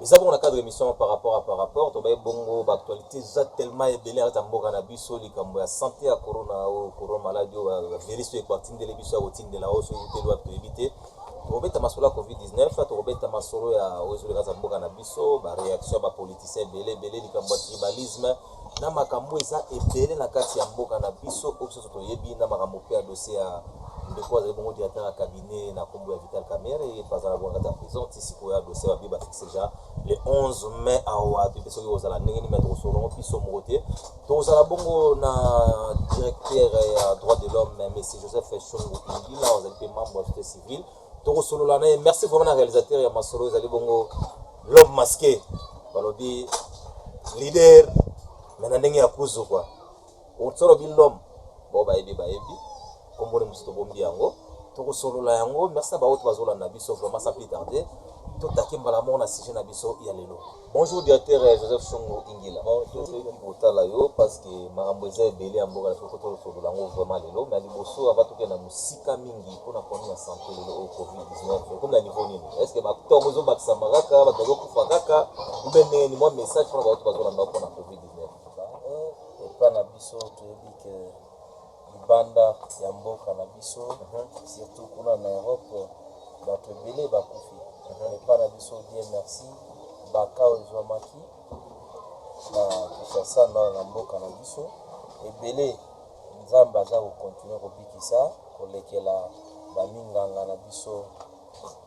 eza bongo na cadre émission par rapport à par rapport tobaye bongo ba actualité eza tellement ebele ata mboka na biso likambo ya santé ya corona oyo corona maladi oyo ba virus oyo ekotindele biso ya kotindela oyo soki uteli wapi toyebi te tokobeta masolo ya covid 19 tokobeta masolo ya oyo ezoleka za mboka na biso ba réaction ya ba politiciens ebele ebele likambo ya tribalisme na makambo eza ebele na kati ya mboka na biso oyo biso nso toyebi na makambo mpe ya dosie ya ndeko azali bongo directeur ya cabinet na nkombo ya Vital Kamerhe ye mpe azala bongo kati ya prison ti sikoyo ya dosie babi bafixe deja le 11 mai awa toyebi soki kozala ndenge nini mai tokosolongo biso moko te tokozala bongo na directeur ya droit de l'homme monsieur joseph shungu ingila azali mpe membre ya société civile tokosolola na ye merci vraiment na réalisateur ya masolo ezali bongo l'homme masqué balobi leader me na ndenge ya kuzu kua oso olobi l'homme bao bayebi bayebi komboni mosusu tobombi yango tokosolola yango merci na baoyo tobazolanda biso vraiment sa plus tarde totaki mbala moko na sujet na biso ya lelo Bonjour directeur Joseph Songo Ingila bon tozoki kotala yo parce que makambo eza ebele ya mboka na biso koto osolola yango vraiment lelo mais liboso avant tokende na mosika mingi mpo na problème ya santé lelo oyo covid 19 ekomi na niveau nini est ce que batongo ezobakisama kaka bato bazokufa kaka ube ndenge ni mwa message mpona bato bazolanda mpo na covid 19 epa na biso toyebi ke libanda ya mboka na biso surtout kuna na Europe batu ebele bakufi mais pas na biso Dieu merci ba cas ezuamaki na Kinshasa na na mboka na biso ebele Nzambe aza ko continuer kobikisa kolekela ba minganga na biso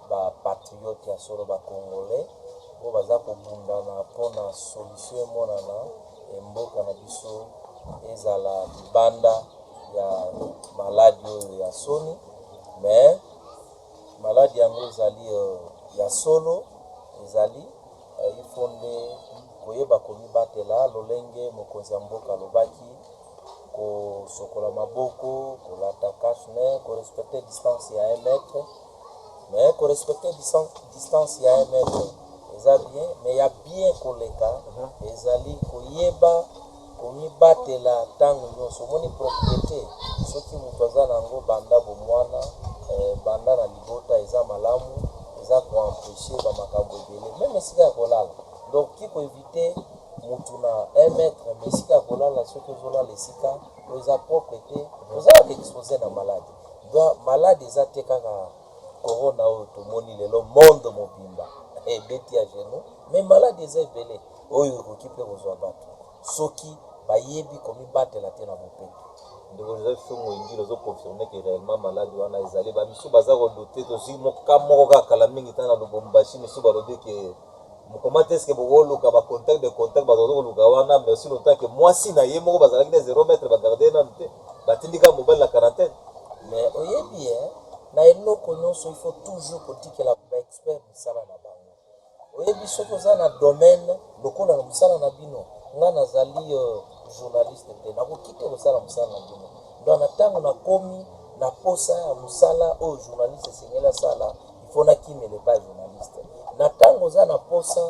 ba patriotes ya solo ba congolais oyo baza kobundana pona solution emonana et mboka na biso ezala libanda ya maladi oyo ya soni mais maladi yango ezali ya solo ezali il faut nde koyeba komibatela lolenge mokonzi ya mboka alobaki. kosokola maboko, kolata cache nez, ko respecter distance ya 1 mètre. Mais ko respecter distance ya 1 mètre eza bien, mais ya bien koleka ezali koyeba komibatela ntango nyonso. Omoni propriete soki moto aza na yango banda bomwana, eh, banda na libota eza malamu, eza koempeshe bamakambo ebele meme esika ya kolala donc ki koevite mutu na un mètre mais esika ya kolala soki ozolala esika oyo eza propre te ozalaka expose na malade donc malade eza te kaka corona oyo tomoni lelo monde mobimba ebeti ya genou mais malade eza ebele oyo ekoki mpe kozwa bato soki bayebi komibatela te na bopeto ndeko joseph songo ingile ozo confirme ke réellement malade wana ezali bamisu baza kodute tozwi moka moko kaka kala mingi ntango na lubumbashi misu balobi ke Mukomate est ce que boko luka ba contact de contact bato bazo koluka wana mais aussi longtemps que mwasi na ye moko bazalaki na zero mètre ba garder ye nanu te batindi kaka mobali na quarantaine Mais oyebi hein, na eloko nionso il faut toujours kotikela ba experts misala na bango. Oyebi soki oza na domaine lokola na mosala na bino, nga nazali euh, journaliste te, nakoki te kosala mosala na bino. Donc na tango nakomi na posa ya mosala oyo journaliste esengeli asala, Il faut na kimele pa journaliste. Na tango oza na posa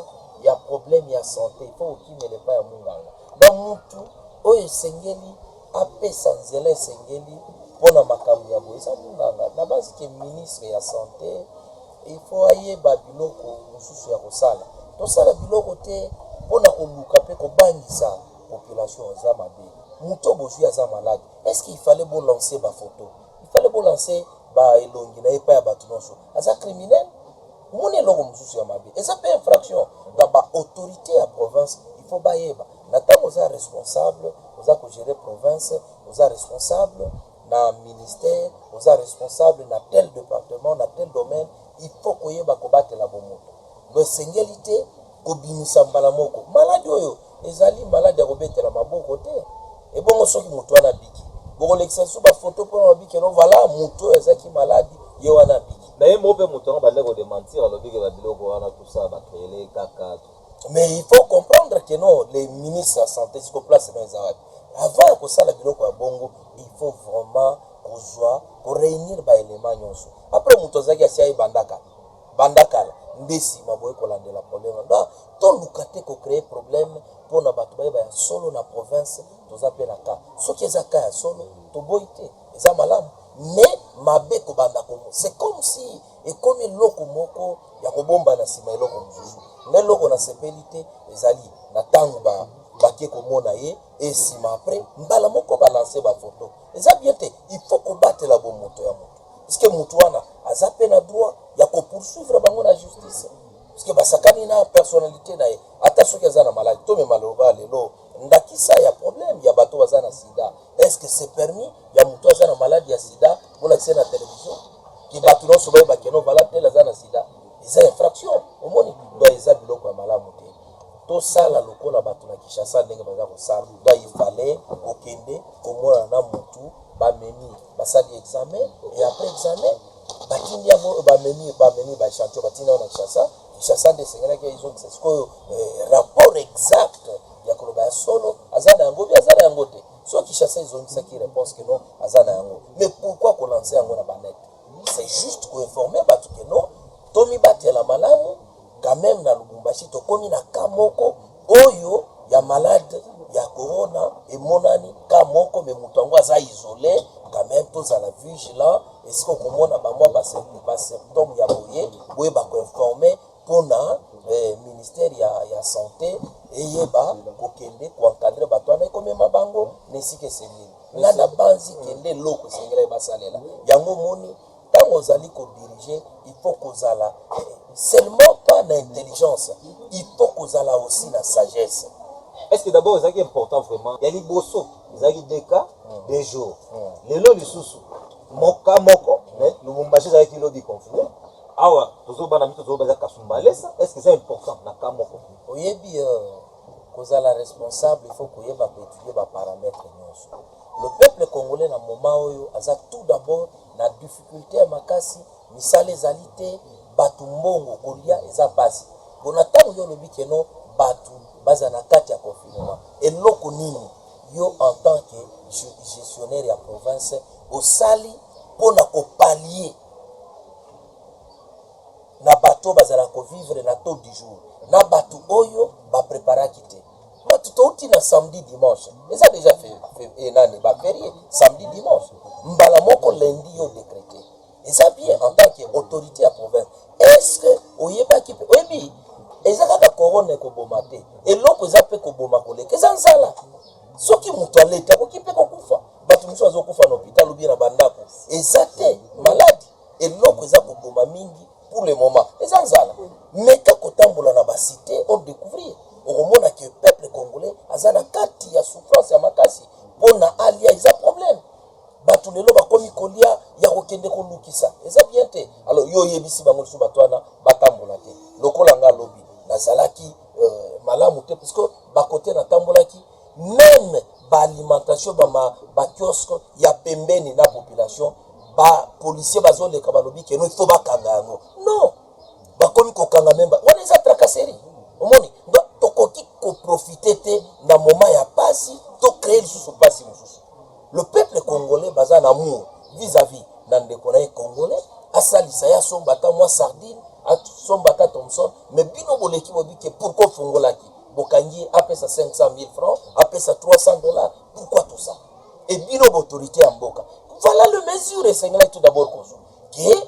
ya problème ya sante, il faut okimele pa ya munganga. Na mutu oyo esengeli apesa nzela esengeli pona makambo ya boye eza munganga. Na base ke ministre ya sante il faut ayeba biloko mususu ya kosala. Tosala biloko te pona koluka pe kobangisa population eza mabe. Mutu oyo bozui aza malade, est ce qu'il fallait bo lancer ba photos? Il fallait bo lancer ba elongi naye epai ya batu nionso. Aza criminel? Omoni eloko mosusu ya mabe eza pe infraction donc ba autorites ya province il faut bayeba na tango oza responsable oza ko gerer province oza responsable na ministère oza responsable na tel departement na tel domaine il faut koyeba kobatela bomoto mais esengeli te Kobimisa mbala moko maladi oyo ezali maladi ya kobetela maboko te. Ebongo soki moto wana abiki? Bokolekisa lisusu ba photo pona olobi que non voila moto oyo azalaki malade ye wana abiki. Mais ye moko pe moto yango abandaki ko dementir alobi que ba biloko wana tout ça ba creele ye kaka. Mais il faut comprendre que non le ministre ya sante sikoyo place naye eza wapi? Avant ya kosala biloko ya bongo il faut vraiment kozua ko reunir ba elements nionso. Apres moto azalaki asi aye bandaka. Banda kala nde sima boye kolandela problème wana donc toluka te ko cree problème pona batu bayeba ya solo na province toza pe na cas soki eza cas ya solo toboyi te eza malamu mais mabe kobanda komo c'est comme si ekomi eloko moko ya kobomba na sima eloko mosusu ngai eloko nasepeli te ezali na tango ba bake komona ye esima après mbala moko balanse bafoto eza bien te il faut kobatela bomoto ya moto Est-ce que mutu wana aza pe na droit ya ko poursuivre bango na justice? Est-ce que basakani na personnalite na ye? Ata soki aza na malade, to mema loba lelo ndakisa ya problème ya bato baza na sida. Est-ce que c'est permis ya mutu aza na malade ya sida bolakisa na television ki bato nyonso bayeba ke non voilà tel aza na sida? Eza infraction omoni, donc eza biloko ya malamu te. Tosala lokola bato na Kinshasa ndenge baza kosala, donc il fallait kokende komona na mutu bamemi basali examen et après examen batindi yango oyo bamemi bamemi baechantion batindi yango na kinshasa kinshasa nde esengelaki ezongisa sikoyo eh, rapport exact ya koloba ya solo aza na yango bi aza na yango te soki kinshasa ezongisaki réponse que non aza na yango mais pourquoi kolanse yango na banete c'est juste koinforme bato que non tomibatela malamu Quand meme na Lubumbashi tokomi na cas moko oyo ya malade ya corona emonani cas moko mais mutu yango aza isole quand meme tozala vigilant esika okomona ba mwa ba symptome ya boye boyeba ko informer pona eh, ministère ya, ya sante eyeba kokende ko encadrer bato wana ekomema bango na esika esengeli nga nabanzi kende eloko esengelaki basalela yango moni tango ozali ko diriger il faut kozala seulement pas na intelligence il faut kozala aussi na sagesse est ce que d'abord ezalaki important vraiment ya liboso ezalaki deux cas hmm. deux jours hmm. lelo lisusu moka moko mais lubumbashi ezalaki lobi confine awa tozobana mito tozoba eza kasumbalesa est ce que eza important na cas moko oyebi euh, kozala responsable il faut koyeba koétudier baparametre nyonso Le peuple congolais na moment oyo aza tout d'abord na difficulte ya makasi, misala ezali te, batu mbongo kolia eza pasi. Pona tango yo olobi que non batu bazala na kati ya confinement, eloko nini yo en tant que gestionnaire ya province osali pona ko pallier na batu oyo bazalaka ko vivre na taux du jour na batu oyo ba preparaki te? But touti na samedi dimanche eza deja fe, fe, eh, nani ba ferie samedi dimanche mbala moko lundi yo decrete eza bien en tant que autorité ya province est-ce que oyebaki pe oyebi eza kaka corona ekoboma te eloko eza pe koboma koleka eza nzala soki moto aleta akoki pe kokufa bato mosusu azokufa na hôpital obie na bandako eza te maladi eloko eza koboma mingi pour le moment eza nzala meka kotambola na ba cite o decouvrir okomona que peuple congolais aza na kati ya souffrance ya makasi pona alia eza problème batu lelo bakomi kolia ya kokende kolukisa eza bien te alors yo oyebisi bango lisusu bato wana batambola te lokola nga lobi nazalaki euh, malamu te puisque bakote natambolaki meme ba alimentation ba ma ba kiosque ya pembeni na population ba policiers bazo leka balobi que non il faut ba kanga yango non bakomi ko kanga meme ba wana eza tracasserie omoni donc tokoki ko profiter te na moment ya pasi to créer lisusu pasi mosusu le peuple congolais baza na amour vis-à-vis na ndeko na ye congolais asalisa ye asomba ata mwa sardine asomba ata thomson mais bino boleki bobi ke pourquoi ofungolaki bokangi ye apesa 500000 francs apesa 300 dollars pourquoi tout ça et bino bautorité ya mboka voilà le mesure esengelaki tout d'abord kozwa ke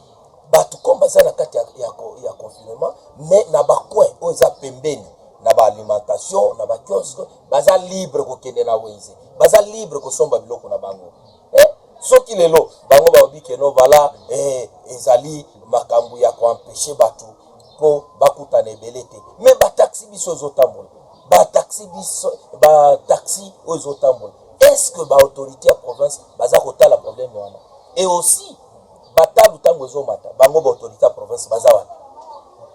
bato comme baza na kati ya, ya, ya confinement mais na bacoin oyo eza pembeni na baalimentation na bakiosque baza libre kokende na wenze baza libre kosomba biloko na bango eh, soki lelo bango balobi keno vala eh, ezali makambo ya koampeshe bato mpo bakutana ebele te me bataxi biso ezotambola bataxi biso bataxi oyo ezotambola est ce que baautorité ya province baza kotala problème wana et aussi batalu ntango ezomata bango baautorité ya province baza wapi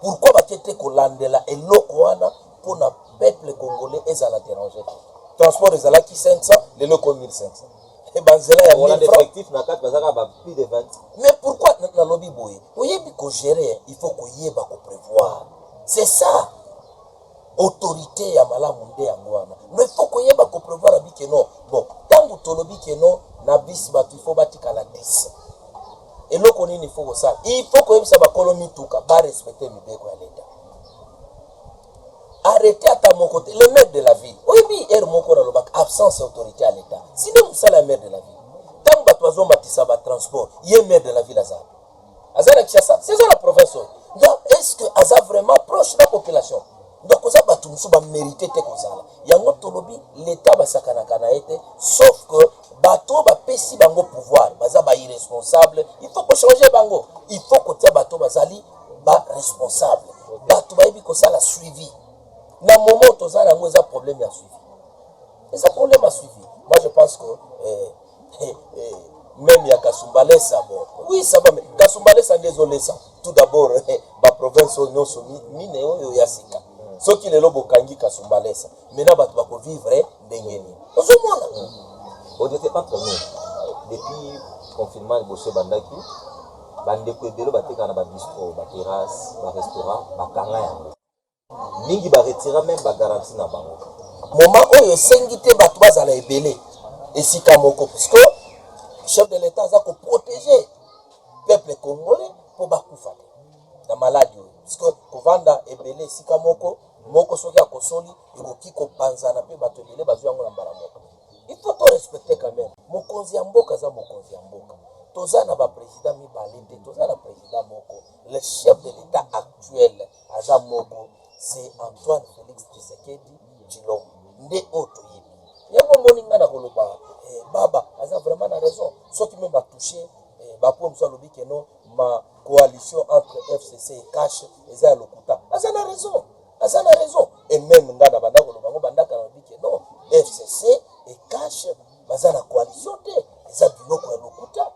pourkui bake te kolandela eloko wana mpo na peuple congolais ezala derange te transport ezalaki 500 lelo ekomi 1500 Eh, banzela ya Wana mille francs. effectif na kati baza kaka ba plus de 20. mais pourquoi na- nalobi boye oyebi kogere il faut koyeba koprevoir c'est ça autorité ya malamu nde yango wana no il faut koyeba koprevoir abi keno bon ntango tolobi keno na bisi bato il faut batikala 10 eloko nini il faut kosala il faut koyebisa bakolo mituka barespecte mibeko ya leta arrete ata moko te le maire de la ville oyebi ere moko nalobaka absence ya autorité ya leta sinde mosala ya maire de la ville ntango bato bazomatisa batransport ye maire de la ville azala aza na kinshasa seza na province oyo donc est ce que aza vraiment proche na population donc oza bato mosusu bamérite te kozala yango tolobi leta basakanaka na ye te sauf que bato oyo bapesi bango pouvoir baza bairresponsable il faut kochange bango il faut kotia bato bazali ba responsable bato bayebi kosala suivi na moment toza nango eza problème ya suivi eza problème ya suivi moi je pense que eh, eh, eh, même ya kasumbalesa bon oui ça va mais kasumbalesa nde ezolesa tout d'abord eh, ba province oyo nyonso mine oyo ya sika soki lelo bokangi kasumbalesa Maintenant batu bako vivre ndenge nini? Ozo mona? On n'était pas comme nous. Depuis confinement liboso ebandaki, ba ndeko ebele batekaka na ba bistro, ba terrasse, ba restaurant, bakanga yango. Mingi ba retira meme ba garantie na bango. Moment oyo esengi te batu bazala ebele esika moko puisque chef de l'etat aza ko protéger peuple congolais po bakufa te na maladi oyo puisque kovanda ebele esika moko moko soki akosoli ekoki kopanzana pe batu ebele bazui yango na mbala moko il faut to respecter quand meme mokonzi ya mboka aza mokonzi ya mboka toza na ba president mibale te toza na president moko le chef de l'etat actuel aza moko c'est Antoine Felix Tshisekedi Tshilombo nde oyo toyebi yango omoni ngai nakoloba eh, baba aza vraiment na raison soki meme batouche eh, bapoye mosusu alobi keno Ma coalition entre FCC et CACH eza ya lokuta. Aza na raison. Aza na raison. Et même nga na banda koloba ngo banda kala lobi que non FCC et CACH baza na coalition te. Eza biloko ya lokuta.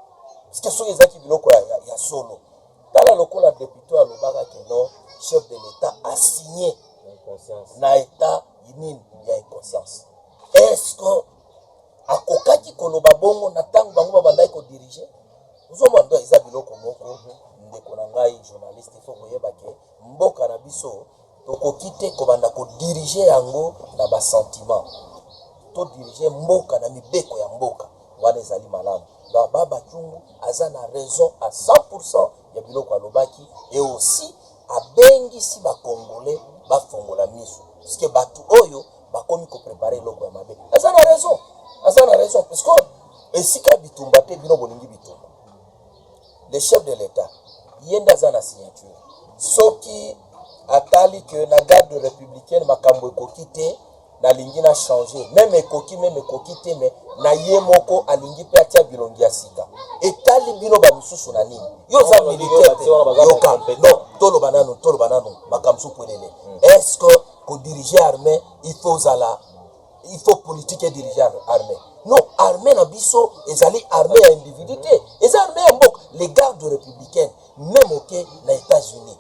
Parce que soki ezaki biloko ya, ya, ya solo. Tala lokola depute alobaka que non chef de l'État a signé na état nini ya inconscience. Est-ce que Akokaki koloba bongo na tango bango ba bandaki ko diriger. Ozo mona donc eza biloko moko ndeko na ngai journaliste il faut koyeba ke mboka na biso tokoki te kobanda ko diriger yango na ba sentiments. To diriger mboka na mibeko ya mboka wana ezali malamu. Donc Baba Kyungu aza na raison à 100% ya biloko alobaki et aussi Abengisi ba congolais ba fongola misu puisque batu oyo bakomi ko prepare eloko ya mabe. Aza na raison, aza na raison puisque esika bitumba te bino bolingi bitumba. Le chef de l'etat ye nde aza na signature soki atali que na garde republicaine makambo ekoki te nalingi na changer meme ekoki meme ekoki te me na ye moko alingi mpe atia bilongi ya sika etali bino bamisusu na nini yo oza militaire te yoka non toloba nanu toloba nanu makambo su pwelele hmm. est ce que kodirige armée il faut ozala il faut politique edirige armée non armée na biso ezali armée ya individu te hmm. eza armée ya mboka les gardes républicaines meme oke na états-unis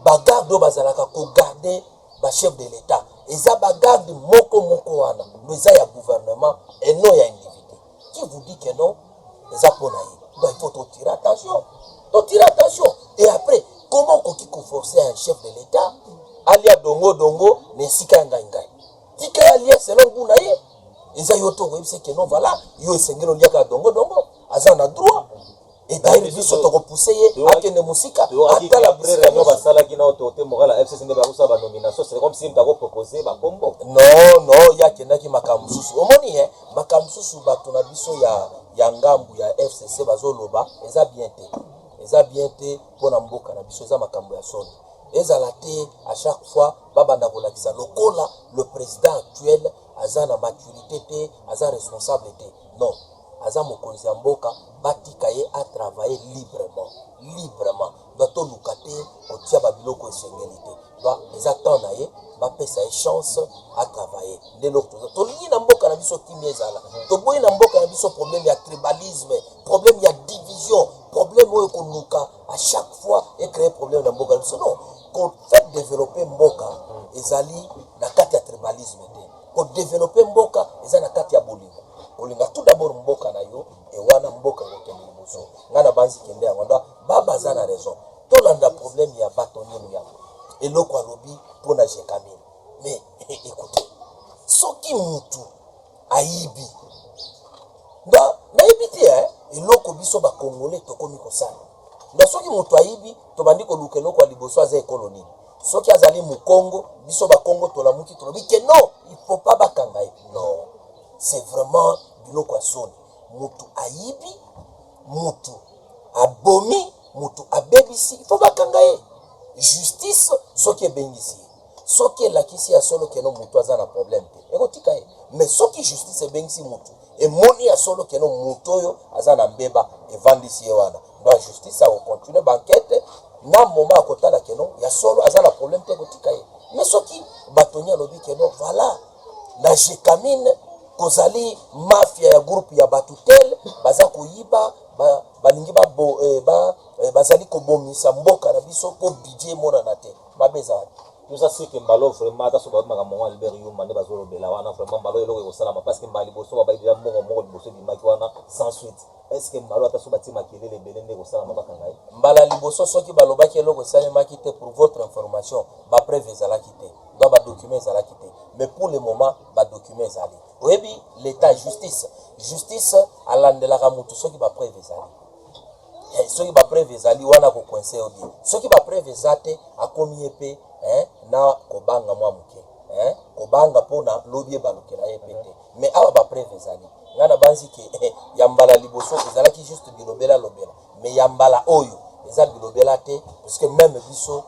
bagarde oyo bazalaka kogarde ba chef de l'etat eza ba garde moko moko wana mais eza ya gouvernement et non ya individu qui vous dit que non eza pona ye donc il faut totire attention totire attention et après comment okoki koforce un chef de l'etat alia dongo dongo na esika ya ngai ngai tika ya lia selon gout na ye eza yo to okoyebisa ke non vala yo esengeli oliaka dongo dongo aza na droit Etayeli biso toko pousser ye akende musika atala brere yango basalaki na autorité morale ya FCC nde ba kosala ba nomination c'est comme si moto ako proposer ba kombo non non ye akendaki makambo mosusu omoni hein makambo mosusu bato na biso ya ya ngambu ya FCC bazoloba eza bien te eza bien te mpo na mboka na biso eza makambo ya soni ezala te à chaque fois babanda kolakisa lokola le président actuel aza na maturité te aza responsable te Non aza mokonzi ya mboka batika ye a travaille librement librement donc toluka te kotia ba biloko esengeli te donc eza temps na ye bapesa ye chance a travaille nde eloko toza tolingi na mboka na biso kimia ezala toboyi na mboka na biso problème ya tribalisme problème ya division problème oyo koluka à chaque fois e créer problème na mboka na biso non ko faire développer mboka ezali na kati ya tribalisme te Ko developper mboka eza na kati ya bolingo. Kolinga tout d'abord mboka na yo et wana mboka ekokende liboso. Nga na banzi kende yango donc baba aza na raison. Tolanda problème ya batonye muyambo eloko alobi pona Gecamine mais ecoutez soki mutu ayibi nda nayebi te hein eloko biso ba congolais tokomi kosala Mais soki mutu ayibi tobandi koluka eloko ya liboso aza ekolo nini? Soki azali mukongo biso ba kongo tolamuki tolobi que non il faut pas bakanga ye non c'est vraiment biloko ya soni mutu ayibi mutu abomi mutu abebisi il faut bakanga ye justice soki ebengisi ye soki elakisi ya solo keno mutu aza na problème te ekotika ye mais soki justice ebengisi mutu emoni ya solo keno mutu oyo aza na mbeba evandisi ye wana donc justice akocontinue bankete na moma akotala keno ya solo aza na problème te ekotika ye mais soki batoni alobi keno voilà na jekamine kozali mafia ya groupe ya bato tel baza koyiba balingi ba, ba, eh, ba, eh, bazali kobomisa mboka na biso mpo bidie emonana te Mabe eza wapi? Nous a ce que mbalo vraiment ata soki bayebi makambo yango Albert Yuma nde bazolobela wana vraiment mbalo eloko ekosalama parce que mbala liboso babayi deja mbongo moko liboso ebimaki wana sans suite est ce que mbalo ata soki batie makelele ebele nde ekosalama bakanga ye mbala liboso soki balobaki eloko esalemaki te pour votre information ba preuve ezalaki te donc ba document ezalaki te mais pour le moment ba document ezali oyebi l'etat justice justice alandelaka mutu soki ba preuve ezali eh, soki ba preuve ezali wana ko coincer yo bien soki ba preuve eza te akomi ye pe eh, na kobanga mwa moke eh, kobanga pona lobi ebalukela ye pe te mais awa ba preuve ezali nga na banzi ke eh, ya mbala liboso ezalaki juste bilobela lobela mais ya mbala oyo eza bilobela te puisque meme biso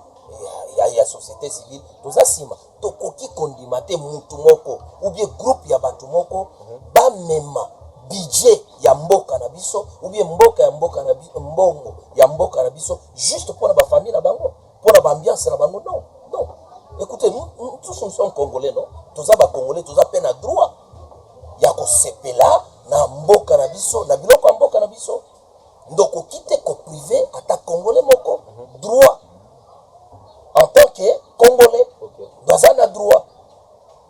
ya, ya, ya société civile toza sima Tokoki kondima te mutu moko ou bien groupe ya batu moko bamema budget ya mboka na biso ou bien mboka ya mboka na biso, mbongo ya mboka na biso juste pona ba famille na bango, pona ba ambiance na bango non non ecoutez nous nous tous nous sommes congolais non toza ba congolais toza pe na droit ya kosepela na mboka na biso na biloko ya mboka na biso. Donc oki te ko prive ata congolais moko droit en tant que congolais baza na droit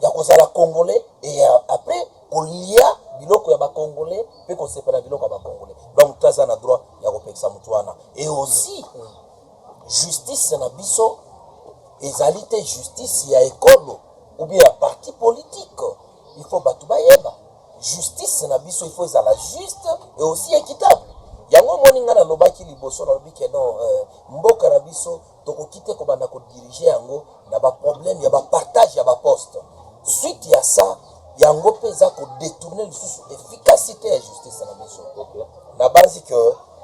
ya kozala congolais et après kolia biloko ya ba congolais pe kosepela biloko ya ba congolais donc moto aza na droit ya kopekisa moto wana et aussi justice na biso ezali te justice ya ekolo ou bien ya parti politique il faut bato bayeba Justice na biso il faut ezala juste et aussi equitable. Yango omoni nga nalobaki liboso nalobi ke non euh, mboka na biso tokoki te kobanda kodirige yango na baproblème ya bapartage ya baposte. Suite ya sa yango mpe eza kodetourne lisusu efficacité ya justice na biso. Nabanzi ke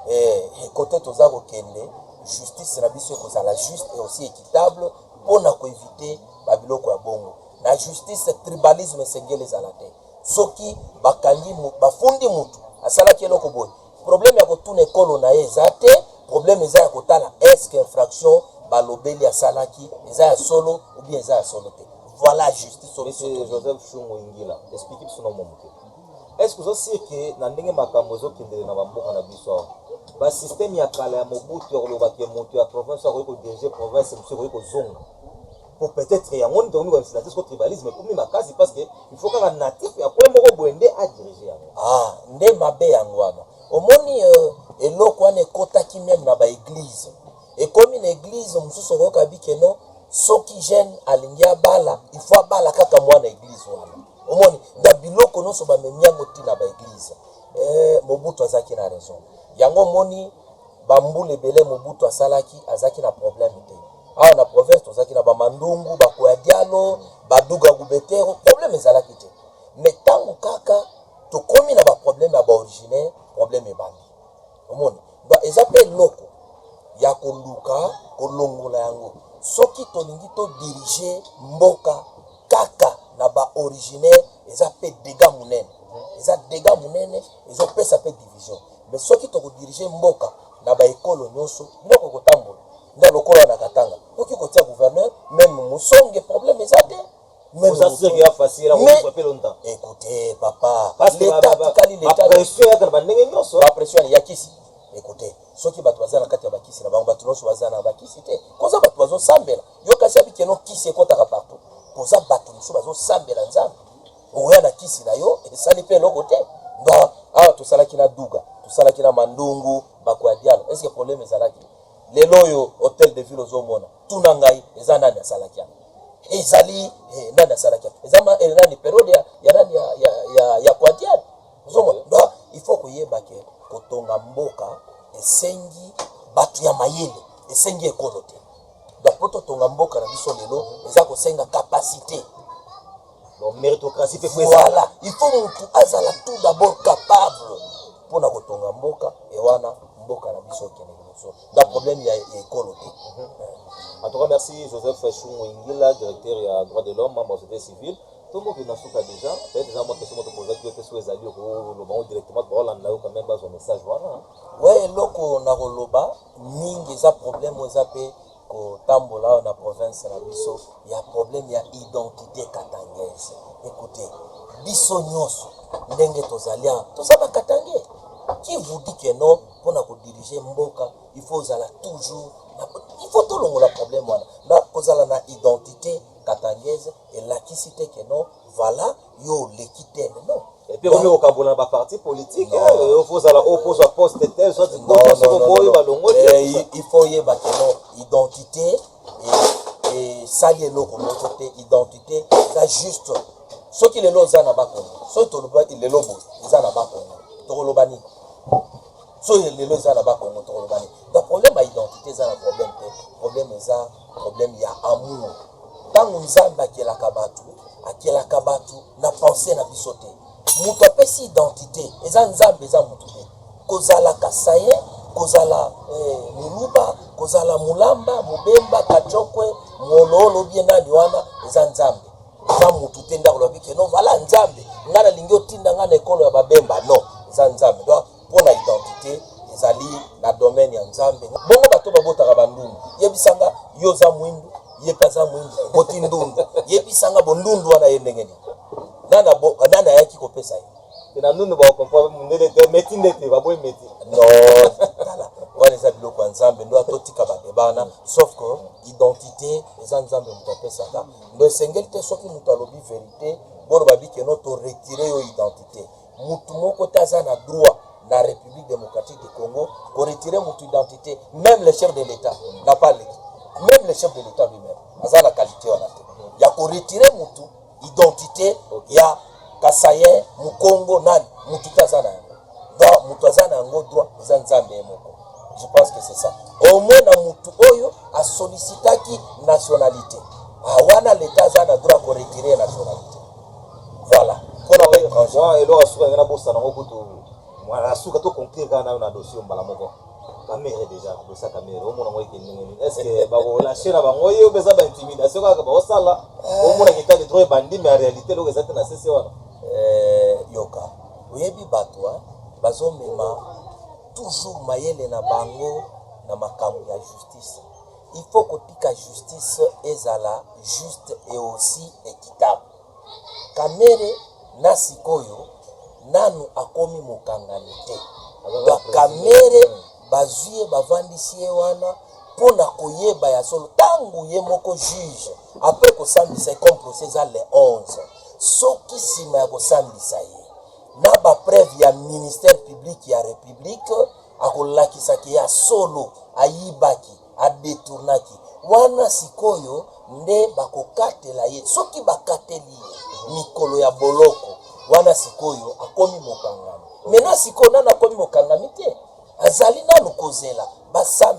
eh, kote toza kokende justice na biso ekozala juste et aussi équitable mpo na koevite babiloko ya bongo. Na justice tribalisme esengeli ezala te soki bakangi mutu bafundi mutu asalaki eloko boye problème ya kotuna ekolo na ye eza te problème eza ya kotala est-ce que infraction balobeli asalaki eza ya solo ou bien eza ya solo te voilà justice oyo biso Monsieur tolingi. Joseph Shungu Ingila, explique biso na mwa moke. Est-ce que oza sûr que na ndenge makambo ezokendele na bamboka na biso awa, ba système ya kala ya Mobutu ya koloba que moto ya province oyo akoki ko diriger province mosusu ekoki kozonga? po peut-être yango nde tokomi komikanisa te soko tribalisme ekomi makasi parce que il faut kaka natif ya coin moko boye nde a diriger yango ah nde mabe yango wana omoni euh, eloko wana ekotaki meme na baeglize ekomi na eglize mosusu okoyoka bike no soki jeune alingi abala il faut abala kaka mwana eglize wana omoni na biloko nyonso bamemi yango ti na baeglize eh, mobutu azalaki na raison yango omoni Ba mbula ebele Mobutu asalaki azalaki na problème te. Awa na province tozalaki na ba Mandungu, ba Kuadialo, ba Duga Gubetero, problème ezalaki te. Mais tango kaka tokomi na ba problème ya ba originaires, problème ebandi. Omoni? Donc eza mpe eloko ya koluka kolongola yango soki tolingi to diriger mboka kaka na ba originaires eza mpe degat munene. Eza degat munene, ezopesa mpe division. Mais soki toko diriger mboka na ba ekolo nioso biloko ekotambola nde lokola na katanga oki kotia gouverneur meme musonge problème eza te écoutez papa l'etat tikali l'etat ba pression ya kisi écoutez soki bato baza na kati ya bakisi na bango bato nyonso baza na bakisi te koza bato bazosambela yo kasi abikeno kisi ekotaka partout koza bato mosusu bazosambela nzambe okoya na kisi na yo esali mpe eloko te na awa tosalaki na duga tosalaki na mandungu bako ya dialo eske probleme ezalaki lelo oyo hotel de ville ozomona tuna ngai eza nani asalaki yango ezali eh, nani asalaki yango eza ma eh, nani periode ya, ya nani ya, ya, ya, ya kwa dialo ozomona donc il faut koyeba ke kotonga mboka esengi bato ya mayele esengi ekolo te donc mpo totonga mboka na biso lelo eza kosenga kapasite Donc meritocratie pe faut voilà, il faut mutu azala tout d'abord capable pona kotonga mboka et wana mboka na biso kende liboso. Na problème ya ekolo te. Mm -hmm. En tout cas, merci Joseph Chumwingila, directeur ya droit de l'homme, membre de société civile. tomoki na suka déjà peut-être eza mwa question moto pozaki yo te soki ezali okoloba yango directement baolanda yo quand même bazwa message wana we eloko nakoloba mingi eza problème eza mpe kotambola awa na province na biso ya problème ya identité katangese ekoute biso nyonso ndenge tozali awa toza ba katangais qui vous dit que non mpo na kodirige mboka il faut ozala toujours il faut tolongola problème wana na kozala na identité katangese elakisi te que non voilà yo oleki te lelo epe okomi kokabola na baparti politike yo fozala oyo pozwa poste te sokoboyi balongoli il faut oyeba keno identité esali eloko moko te identité eza juste soki lelo oza na bakongo soki toloba lelo boye eza na bakongo tokoloba nini so ya lelo eza na bakongo tokolobani donc problème ya identité eza na problème te problème eza problème ya amour ntango nzambe akelaka bato akelaka bato na pensé na biso te moto apesi identité eza nzambe eza moto te kozala kasaye kozala eh, muluba kozala mulamba mobemba kachokwe mololo bie nani wana eza nzambe eza motu te ndako lobi keno vala nzambe ngai nalingi otinda ngai na ekolo ya babemba non eza nzambe donc Mpo na identite ezali na domaine ya Nzambe. Bongo bato oyo babotaka ba ndundu, yebisa nga yo oza mwindu, ye mpe aza mwindu, oboti ndundu, yebisa nga bondundu wana eye ndenge nini? Nani abo, nani ayaki kopesa ye? Mpe na ndundu bakokomprendre mundele te, meti nde te, baboyi meti. Non, tala, wana eza biloko ya Nzambe, ndoa totika ba debat wana, sauf que identite eza Nzambe moto apesaka, donc esengeli te soki moto alobi verite boloba bi que non to retirer yo identite. Mutu moko te aza na droit na Republique Democratique du Congo ko retirer mutu identite, meme le chef de l'Etat n'a pas leki, meme le chef de l'Etat lui-même aza na qualité wana te ya ko retirer mutu identite ya Kasaïen, Mukongo, nani mutu te aza na yango. Donc mutu aza na yango droit eza Nzambe ye moko. Je pense que c'est ça. Au moins na mutu oyo a sollicitaki nationalité. Ah wana l'Etat aza na droit ko retirer nationalité. Voilà. Mpo na ngai François, eloko ya suka na bosana yango kutu mwana ya suka to conclure kaka nayo na dossier mbala moko. Kamere déjà, dossier Kamere, omona ngo eke ndenge nini? Est-ce que ba ko lâcher na bango yo beza ba intimidation kaka ba osala? Omona ki tali trop ebandi mais en réalité eloko eza te na sese wana. Euh, yoka. Oyebi bato hein, bazomema toujours mayele na bango na makambo ya justice. Il faut kotika justice ezala juste et aussi equitable. Kamere na sikoyo nanu akomi mokangani te. Ba Kamere bazwi ye bavandisi ye wana mpo na koyeba ya solo ntango ye moko juge apres kosambisa ye comme procès eza le 11 soki nsima ya kosambisa ye na bapreuve ya ministère public ya republique akolakisa ke ya solo ayibaki adetournaki wana sikoyo nde bakokatela ye soki bakateli ye mikolo ya boloko wana sikoyo akomi mokangami mena sikoyo nano akomi mokangami te azali nano kozela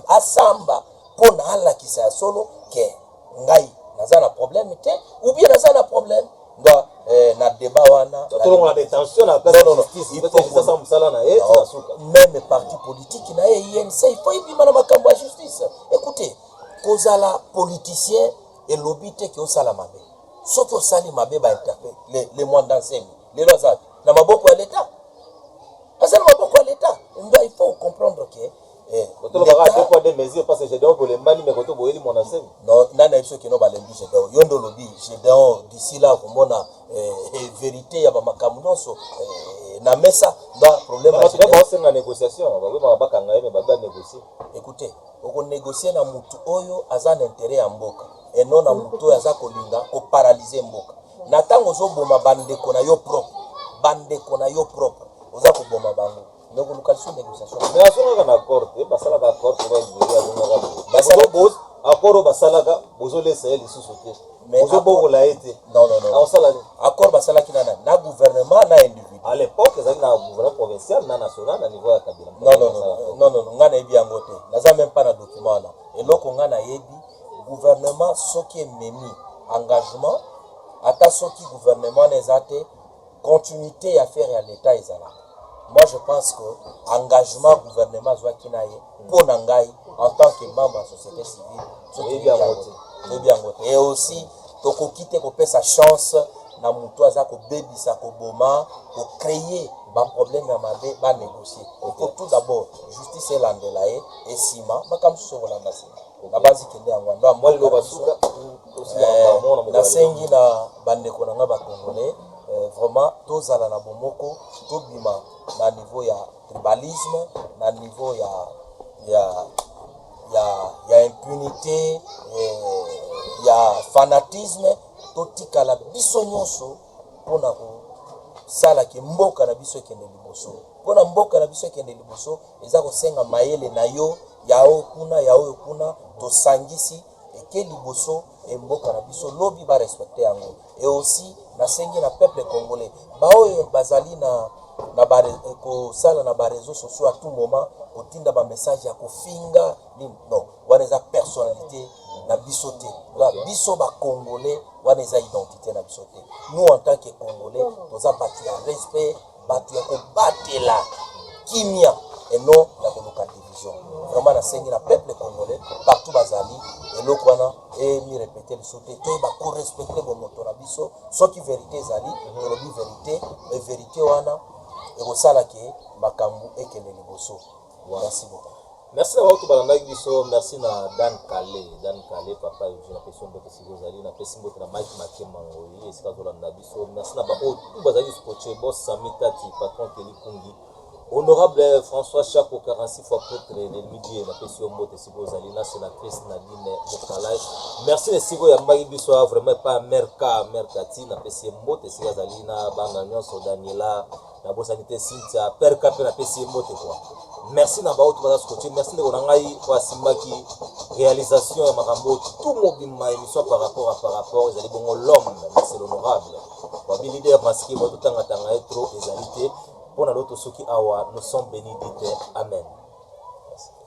asamba mpo na alakisa ya solo ke ngai naza na probleme te ubie naza na probleme nga eh, na debat wana tolongola detention na place ya justice peut être sasa musala na ye tika suka même parti politique na ye INC il faut ebima na makambo ya justice écoutez kozala politicien elobi te ke osala mabe soki osali mabe ba interpelle le, le mwanda nsemi lelo aza na maboko ya leta aza na maboko ya leta nda il faut comprendre que Eh, botoloba kaka deux poids deux mesures parce que Gedeon bolembani mais koto boyeli mwana nsemi non nani ayebi soki no balembi Gedeon yo nde olobi Gedeon d'ici là komona eh, eh, verité ya bamakambo nyonso eh, na mesa ba problème ya Gedeon. basenga négociation babemaka bakanga ye me babe banégocie écoutez okonégocie na motu oyo aza na intérêt ya mboka et non na motu oyo aza kolinga koparalyse mboka na ntango ozoboma bandeko na yo propre bandeko na yo propre oza koboma bango donc koluka lisusu négociation mais azongaka na accord te basalaka accord po bazweli azongaka basala bos accord oyo basalaka bozolesa ye lisusu te ozobokola ye te akosala accord basalaki nana na gouvernement na individu à l'époque ezalaki na gouvernement provincial na national na niveau ya kabila nonnono ngai nayebi yango te naza meme pas na document wana eloko ngai nayebi gouvernement soki ememi engagement ata soki gouvernement wana eza te continuite ya affaire ya l'etat ezalaka moi je pense que engagement gouvernement azwaki na ye mpo na ngai en tant que membre ya société civile toyebi yango te toyebi yango te et aussi tokoki te kopesa chance na moto aza kobebisa koboma kocreye baproblème ya mabe banégocie il faut tout d'abord justice elandela ye esima makambo mosusu okolanda nsima Na basi kende yango wana na mwa loba suka eh, nasengi na bandeko na ngai ba congolais eh, vraiment tozala na bomoko tobima na niveau ya tribalisme na niveau ya ya ya, ya impunité eh, ya fanatisme totikala biso nyonso mpo na kosala ke mboka na biso ekende liboso. Mpo na mboka na biso ekende liboso, eza kosenga mayele na yo ya oyo kuna ya oyo kuna, tosangisi eke liboso e mboka na biso lobi ba respecte yango. E aussi nasengi na peuple congolais baoyo bazali na na ba kosala na ba réseaux sociaux à tout moment kotinda ba message ya kofinga nini non wana eza personnalite na biso te ba biso ba congolais wana eza identité na biso te nous en tant que congolais toza bato ya respect bato ya kobatela kimia et non ya koluka division vraiment nasengi na peuple congolais partout bazali eloko wana emirepete lisusu te toyeba korespecte bomoto na biso soki verité ezali tolobi verité e verité wana ekosala ke makambo ekende liboso Merci beaucoup. Merci na baoto balandaki biso, merci na Dan Kale, Dan Kale papa Eugene na pesi mbote siko ozali na pesi mbote na Mike Makema ngoyi esika azolanda biso. Merci na baoyo tout bazali scotché, boss Sami Tati, patron Kelly Kungi. Honorable François Chapo 46 fois prêtre de midi na pesi yo mbote siko ozali na sénatrice Nadine Mokalai. Merci na siko ya mbaki biso vraiment pas Merka, Merka ti na pesi mbote siko azali na bana nyonso Daniela nabosani te Cynthia perka mpe napesi ye mbote kwa merci na baoyo baza scotche merci ndeko na ngai oyo asimbaki réalisation ya makambo oyo tout mobima émission par rapport à par rapport ezali bongo l'homme merci l'honorable babi leader masque bato tangatanga ye trop ezali te mpo na loto soki awa nous sommes béni dit amen